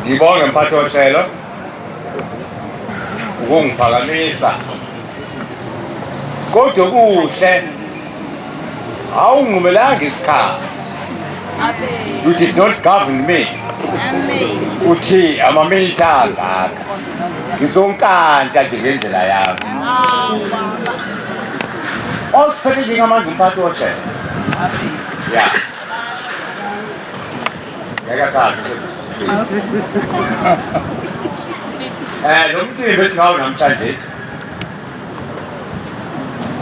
Ngibonge mphathi wohlelo ukungiphakamisa kodwa kuhle awungimelanga isikhathi you did not govern me uthi amamilitha angaka ngizonkanta nje ngendlela yami osiphethe njengamanje umphathi wojele ya ngeke athathe eh lo mcimbi esingawo namhlanje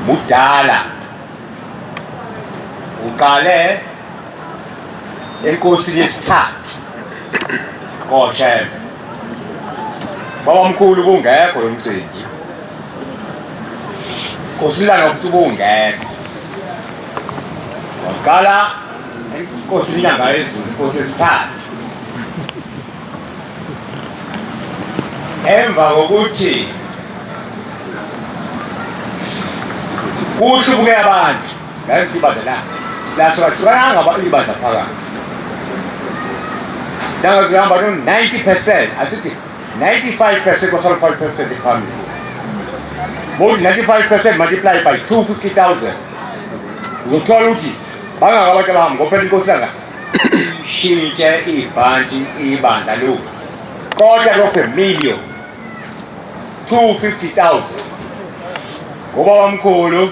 mudala uqale enkosini yesithathu koshembe Babamkhulu kungekho lo mcimbi. Nkosilana ukuthi ubungekho. Waqala inkosi inyanga yezulu inkosi esithathu. Emva kokuthi kuhlubuke abantu Ngayiphi ibandla na? Naso bahlukananga abantu ibandla phakathi. Nanga zihamba no 90%, asithi 95% or 5% iphambili. More 95% multiply by 250,000. Uzothola ukuthi bangaka abantu abahamba ngophela inkosi yanga shintshe ibhanti ibandla lu kodwa lokho million 250,000 ngoba wamkhulu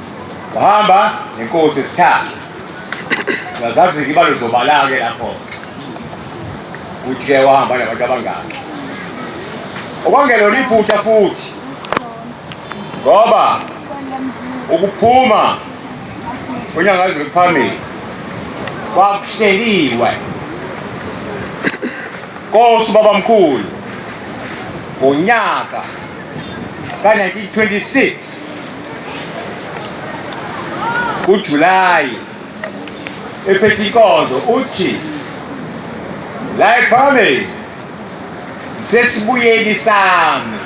Wahamba nenkosi isikhathi. Ngazazi ke ibalo zobalake lapho. Uthe wahamba nabantu abangaki. Okwangelo liphutha futhi. Ngoba ukuphuma kwenyanga eziphambili kwakuhleliwe. Nkosi baba mkhulu ngonyaka ka-1926 uJulayi ephethe inkonzo uthi la ePhalamende sesibuyeni sami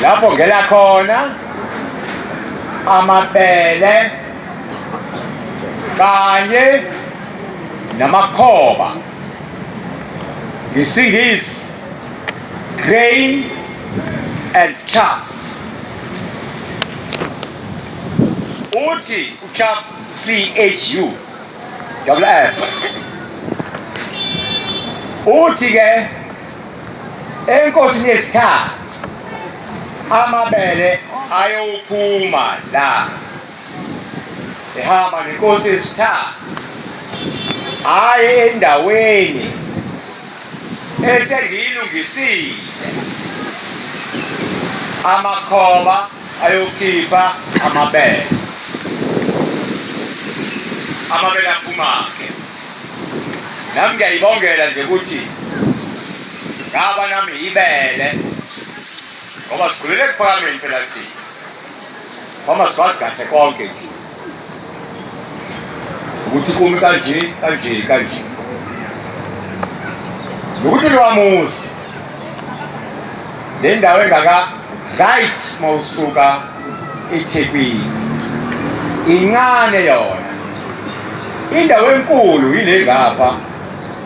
lapho ngela khona amabele kanye namakhoba ngesingisi grain and chaff Uthi uChap CHU double F uthi ke enkosini yesikhathi amabele ayophuma la ehamba nenkosi yesithathu hayi endaweni esengiyilungisile amakhoba ayokhipha amabele amabele aphumake nami ngiyayibongela nje ukuthi ngaba nami yibele ngoba sikhulele ekuphakameni phela thina kwamaswazi kahle konke nje ukuthi kumi kanje kanje kanje nokuthi lwamuzi le ndawo engaka right uma usuka ethekwini incane yona indawo enkulu yile ngapha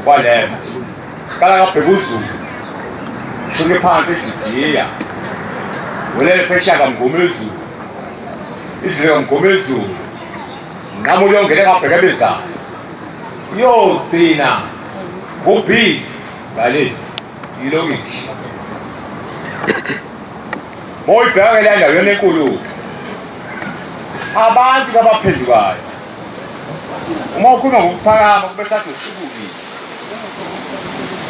kwa-left Qala ngabheka uZulu. Shonke phansi eDidiya. Welele phesha kamgome izulu. Izulu kamgome izulu. Nqamu uyongena ngabheka ebezayo. Uyogcina ngobhi ngale ilokishi. Moyibheka ke landa yona enkulu. Abantu abaphendukayo. Uma ukhuluma ngokuphakama kube sathi usuku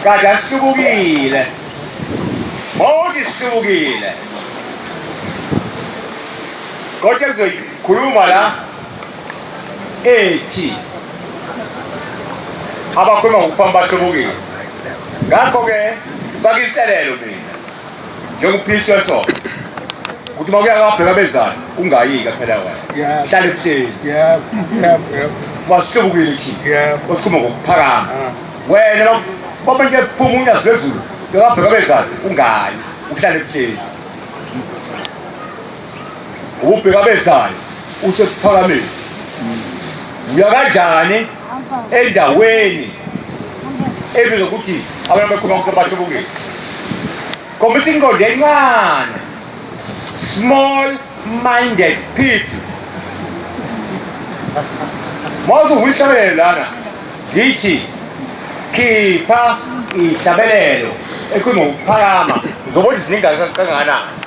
Kade asihlubukile. Bonke sihlubukile. Kodwa kuzoyikhuluma la ethi abakhuluma ngokuphamba bahlubukile. Ngakho-ke faka inselelo mina. njengophishwe so ukuthi uma kuya kabheka abezani ungayika phela wena hlale ebuhleni wasihlubukile thi osuma ngokuphakama ah. wena baba nje phuma unyazi lwezulu bekabheka abezani ungayi uhlale ebuhleni ubheka bezayo usekuphakameni uya kanjani endaweni ebizwa ukuthi abantu abakhuluma ukuthi abantu obungeni khombisa inqondo encane small minded people mawuze uyihlabelele lana ngithi khipha ihlabelelo ekhuluma ngokuphakama zobona izingane kangakanani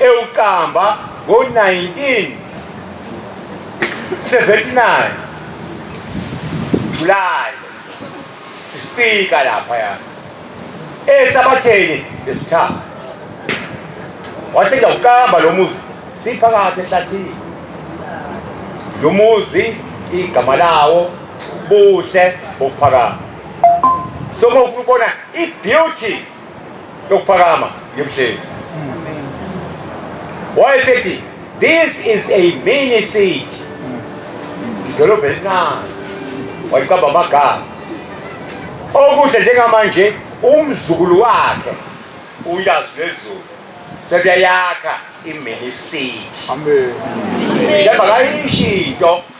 ewuqamba ngo-1979 July sifika lapha ya esabatheni lesithathu wathi ngiyawuqamba lo muzi siphakathi ehlathini lo muzi igama lawo buhle bokuphakama so uma ufuna ukubona i-beauty yokuphakama yemhleli wayesethi this is a mini city idolobha elincane wayiqamba amagama okuhle njengamanje umzukulu wakhe uyazi lezulu sebuyayakha imini city njengoba kayisho into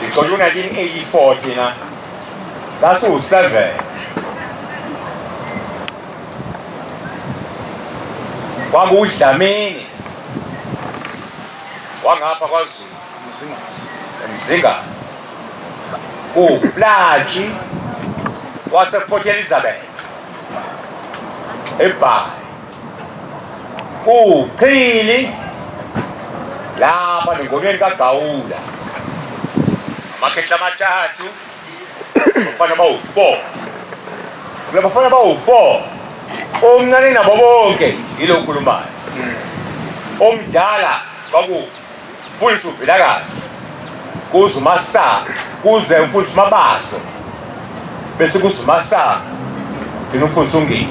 Sixoxa u-1984 thina sasiwu-seven. Kwakuwudlamini wangapha kwaZulu Mzingazi uwuplaji wasePort Elizabeth ebhayi Kuchili lapha nengomeni kaGawula amakhehla amathathu bafana bawu-four kula bafana bawu-four omncane nabo bonke yilo okhulumayo omdala kwaku Mfundisi uVilakazi kuze uMasango kuze umfundisi uMabaso bese kuze uMasango ngina umfundisi uNgidi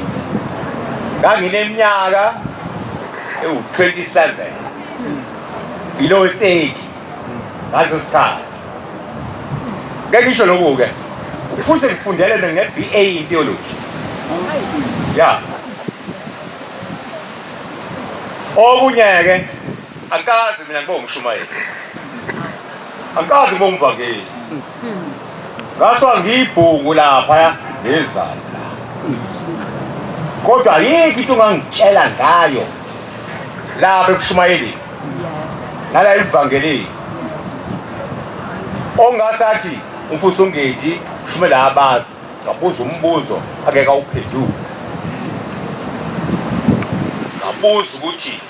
ngangineminyaka ewu-27 yilowo 30 ngaleso sikhathi ngeke ngisho loku-ke futhi ngifundele mina nge-b a in theology ya okunye-ke Angikaze mina ngibe umshumayeli. Angikaze ngibe umvangeli. Ngaswa ngiyibhungu lapha ngezana. Kodwa yiki into ongangitshela ngayo lapha ekushumayeleni. Nala evangelini. Ongasathi umfuso ngedi shumela abazi ngabuza umbuzo akeka uphenduka. Ngabuza ukuthi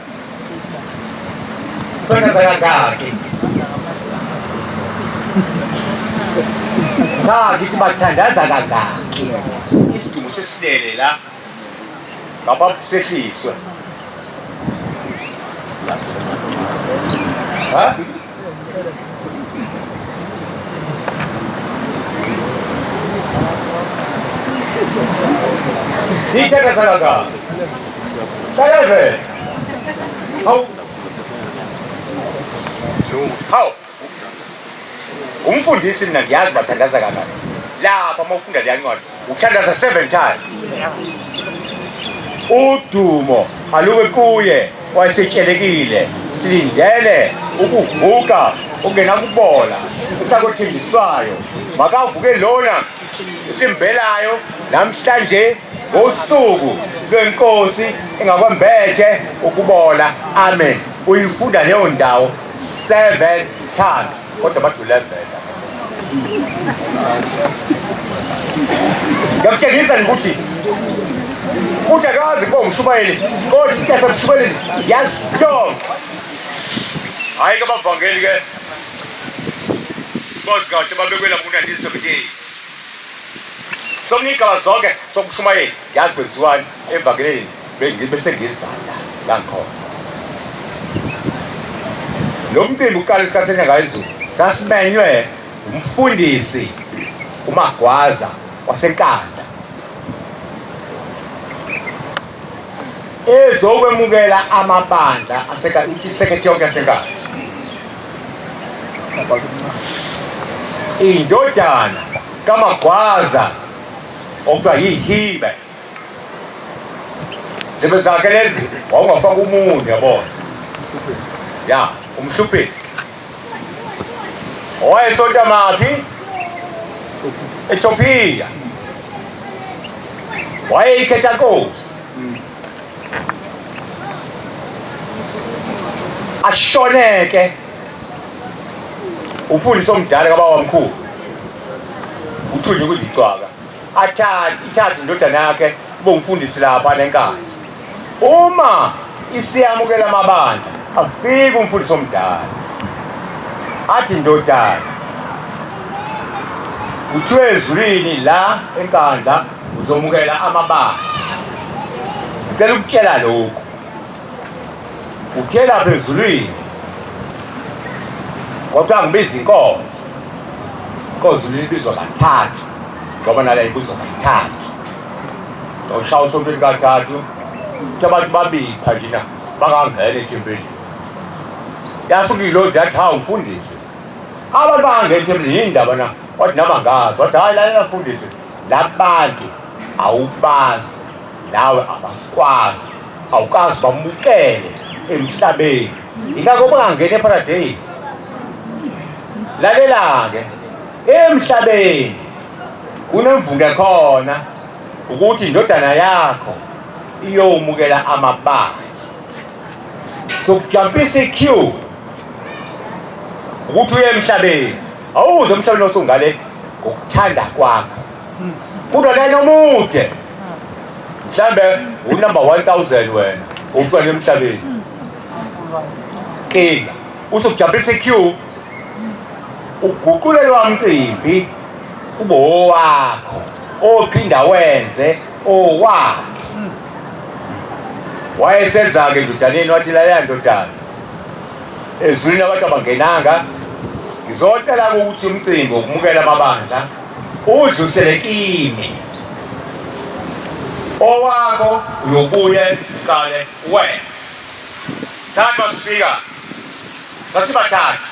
Cha ngithi bathandaza kangaki. Isidumbu sesilele la. Baba kusehliswe. Ha? Iteka sagaka. Kaleve. Hau. Hau. Umfundisi mina ngiyazi bathandaza kanani. Lapha uma ufunda leyancwadi Ukuthandaza seven times. Udumo alube kuye wayesetshelekile silindele ukuvuka okungenakubola esakothenjiswayo makavuke lona esimbelayo namhlanje ngosuku lwenkosi engakwembethe ukubola amen uyifunda leyo ndawo seven times kodwa badulazela ngiyakutshengisa ukuthi uthi akazi kuba umshumayeli kodwa into yasemshumayeleni yazi yonke hhayi ke bavangeli ke bazi kahle babekwela ku-1978 somnigaba zonke sokushumayela Yazi kwenziwani emvakeleni bengibe sengizala la ngikhona. Lo mcimbi uqala isikhathi enyanga izulu sasimenywe umfundisi uMagwaza waseNkandla ezokwemukela amabandla asesekhethi yonke yaseNkandla indodana kaMagwaza Okuthiwa yihibe. Zibe zakhe lezi wawungafaka umunyu yabona. Ya, umhluphisi. Owayesonta maphi? Ethiopia. Wayeyikhetha nkosi. ashoneke umfundisi omdala kabawamkhulu uthunye ukuthi icwaka ithathe indodana yakhe kube umfundisi lapha nenkani uma isiyamukela amabandla afike umfundisi omdala athi ndodana kuthiwe ezulwini la enkandla uzomukela amabanga ngicela ukutshela lokhu uthela phezulwini kodwa ngibiza inkonzo inkonzo libizwa kathathu ngoba nala ibizwa kathathu ushaya usontweni kathathu ukuthi abantu babipha njena bangangena ethempelini yasuke ilozi yathi hawu mfundisi abantu bangangena ethempelini yini ndaba na wathi nama ngazi wathi hhayi lalela mfundisi labantu awubazi nawe abakwazi awukazi bamukele emhlabeni ingakho bangangena eparadeyisi lalela-ke emhlabeni kunemvunge khona ukuthi indodana yakho iyowumukela amabandla sokujampisa iq ukuthi uye emhlabeni awuze umhlaba nosungale ngokuthanda kwakho kudo lena omude mhlambe unumber 1000 wena umfana emhlabeni kinga usukujabulisa iq uguqulelwa mcimbi kube owakho ophinda wenze owakhe wayeseza-ke ndodaneni wathi laleya ndodana ezwini abantu abangenanga ngizocela ukuthi umcimbi wokumukela amabandla udlulisele kimi owakho uyobuye qale wenze sathi masifika sasibathathu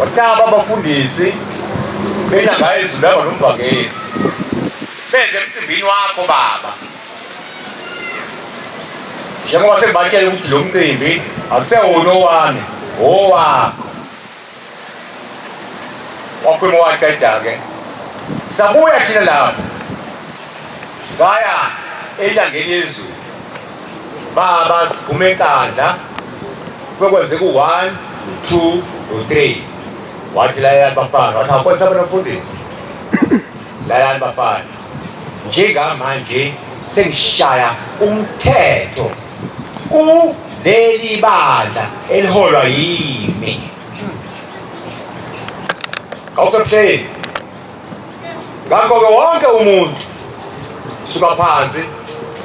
Wataba abafundisi benyanga ezulanga nomvangeli benze emcimbini wakho baba njengoba sengibatshela ukuthi lo mcimbi akusewona owami owakho wakhuluma waqeda-ke sabuya thina lapho saya elangeni ezulu baba siphume enkandla kwekwenzeka u-one two no-three wathi layani bafana wathi awukwesa bona mfundisi layani bafana njengamanje sengishaya umthetho kuleli bandla eliholwa yimi awusebuhleni Ngakho-ke wonke umuntu suka phansi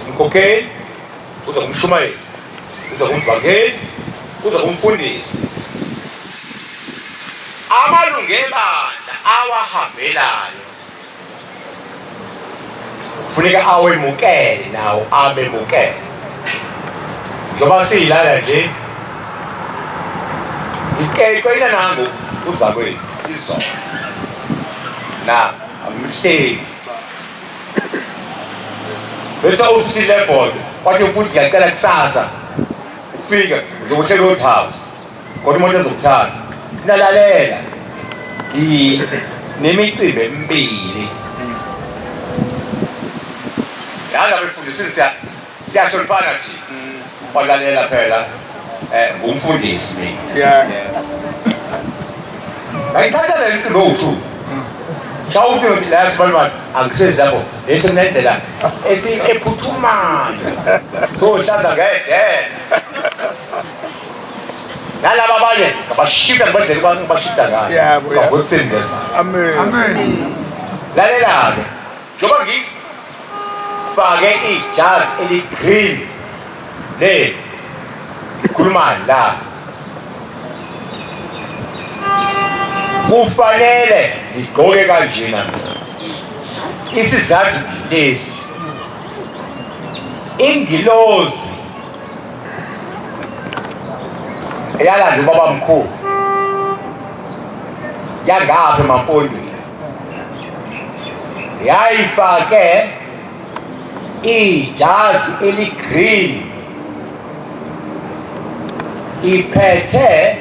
umkhokheli kuze kumshumayeli kuze kumvangeli kuze kumfundisi amalungu ebandla awahambelayo kufuneka awemukele nawo amemukele njengoba siyilala nje ngikeqela nangu uzakwethu izolo na angihleki bese ufisile ebhodo wathi mfuthi ngiyacela kusasa ufike uzokuhlela old house kodwa umuntu ezokuthanda nalalela nemicimbi emibili yala befundisini siya Siyahloniphana nje. Walalela phela eh ngumfundisi mina. Yeah. Ngayithatha le nto ngothu. Shawuthi ngithi la sibalibani angisezi lapho lesi kunendlela esi ephuthumayo. So hlanda ngedela. Nalaba abanye ngabashita ngibadele kuba ngibashita ngayo. Yeah, boy. Ngakho kusindeza. Amen. Lalela-ke. njengoba ngifake ijazi eligreen leli ngikhulumani la kufanele ngigqoke kanjena mina isizathu ngilesi ingilozi eyalanda ubabamkhulu yangapha emampondweni yayifake ijazi eligreen iphethe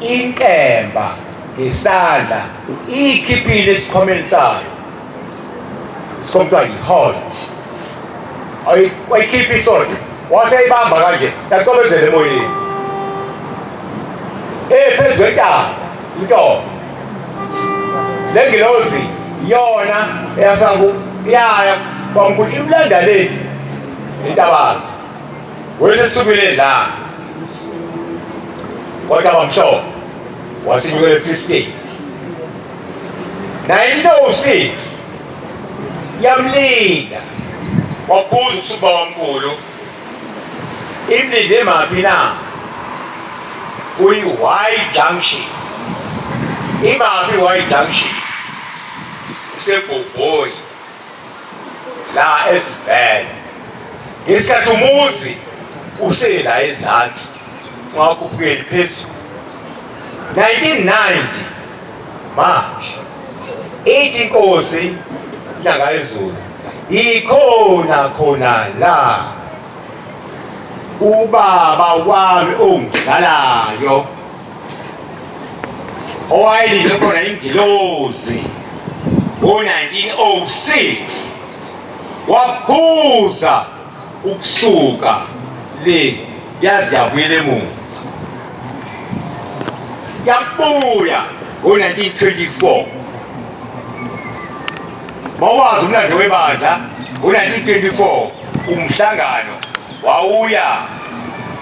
inkemba ngesandla iyikhiphile esikhomeni sayo sokuthiwa yi-hold wayikhipha isonto waseyibamba kanje yacobezela emoyeni ephezu kwentaba Nto. Lengilozi yona eyafika ku yaya kwamkhulu imlanda le intabazo. Wese sukile la. Kodwa bamhlobo wasinyukele free state. 1906 yamlinda wabuza usuba wamkhulu Imlinde emaphi na? Kuyi-Y junction. Imaphi Y junction? Isebhobhoyi la ezivele. Ngesikhathi umuzi usela ezansi ungakhuphukeli phezulu. 1990 manje ithi inkosi inyanga yezulu ikhona khona la ubaba wami ongidlalayo owayelinde khona ingilozi ngo-1906 wabuza ukusuka le yazi yabuyela emuva yabuya ngo-1924 Mawazi umlando webandla ngo-1924 umhlangano wawuya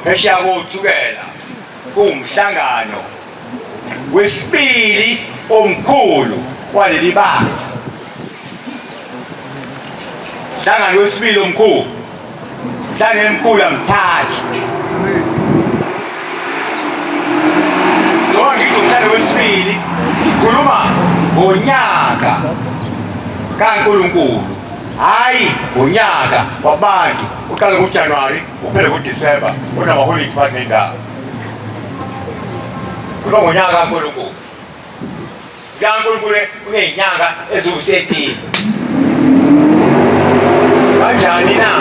phesheya kothukela kuwumhlangano wesibili omkhulu waleli bandla. Hlangano wesibili omkhulu Dlane mkula mthathu. Njengoba ngithi umdlalo wesibili ngikhuluma ngonyaka kaNkulunkulu hhayi ngonyaka wabantu uqale kuJanuwari uphele kuDisemba unamaholidi phandle indawo kuba ngonyaka kaNkulunkulu likaNkulunkulu kunezinyanga eziwu-13 kanjani na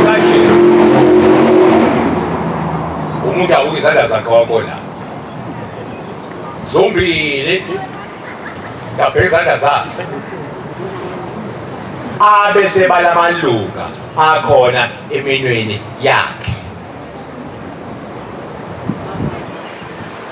kanje umuntu awuke izandla zakhe wabona zombili ngabheka izandla zakhe abese balamalunga akhona eminweni yakhe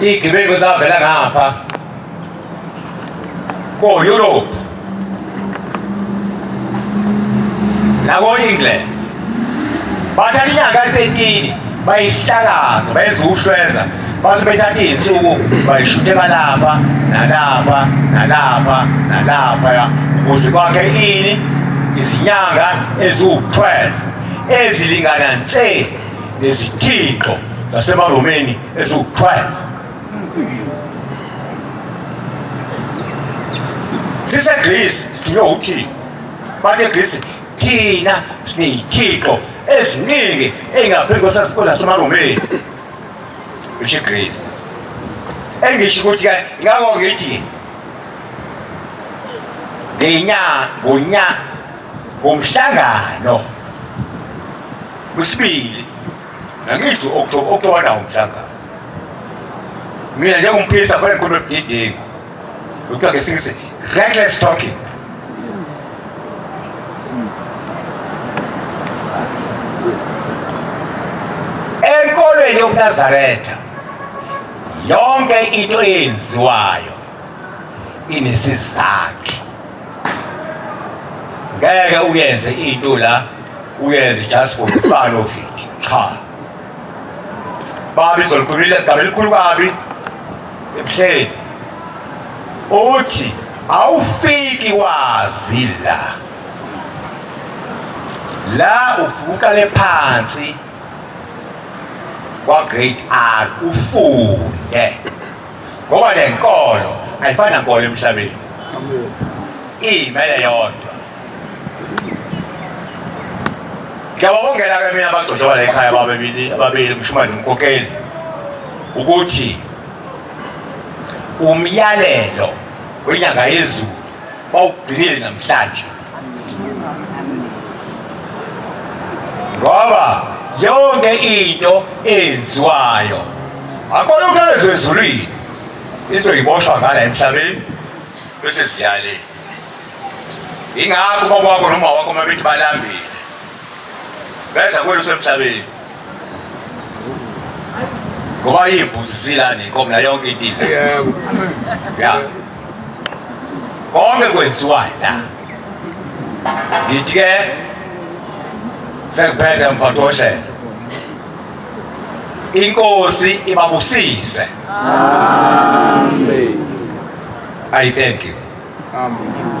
Iy'gebengu ezavela ngapha ko-Europe nako-England bathatha inyanga etetini bayihlakaza bayenza ukuhlweza base bethatha iy'nsuku bayishuthela lapha nalapha nalapha nalapha ukuze kwakhe ini izinyanga eziwu-12 ezilingana nse nezithixo zasemaromeni eziwu-12 sisegrisi sithunywe uthixo bathi egrisi thina sineyithixo eziningi eyingaphezu kwezasemaromeni isho igrisi engisho ukuthi ingako ngithi ngenyanga ngonyaka Umhlangano wesibili nangisho October October nawo umhlangano. Mina njengomphilisi afanele ngikhulume budedengu. Lokuthiwa ngesingisi reckless talking. Enkolweni yobuNazaretha yonke into eyenziwayo inesizathu ngeke uyenze into la uyenze just for the fun of it cha babi zolikhulumile igama elikhulu kabi ebuhleni uthi awufiki wazi la la ufuqale phansi kwa grade R ufunde ngoba le nkolo ayifani nankolo emhlabeni iyimele yodwa ngiyababongela ke mina abagcotshwa la ekhaya bababili ababili umshumane umkokeli ukuthi umyalelo wenyanga yezulu bawugcinile namhlanje ngoba yonke into eyenziwayo akubona ukuthi alezo ezulwini izoyiboshwa ngala emhlabeni bese siyale ingakho baba wakho noma wakho uma bethi balambile Bejabule usemhlabeni. Ngoba imbuzi silani inkomo la yonke into. Yebo. Ya. Konke kwenziwa la. Ngithi ke sekuphethe mpathoshela. Inkosi ibabusise. Amen. I thank you. Amen.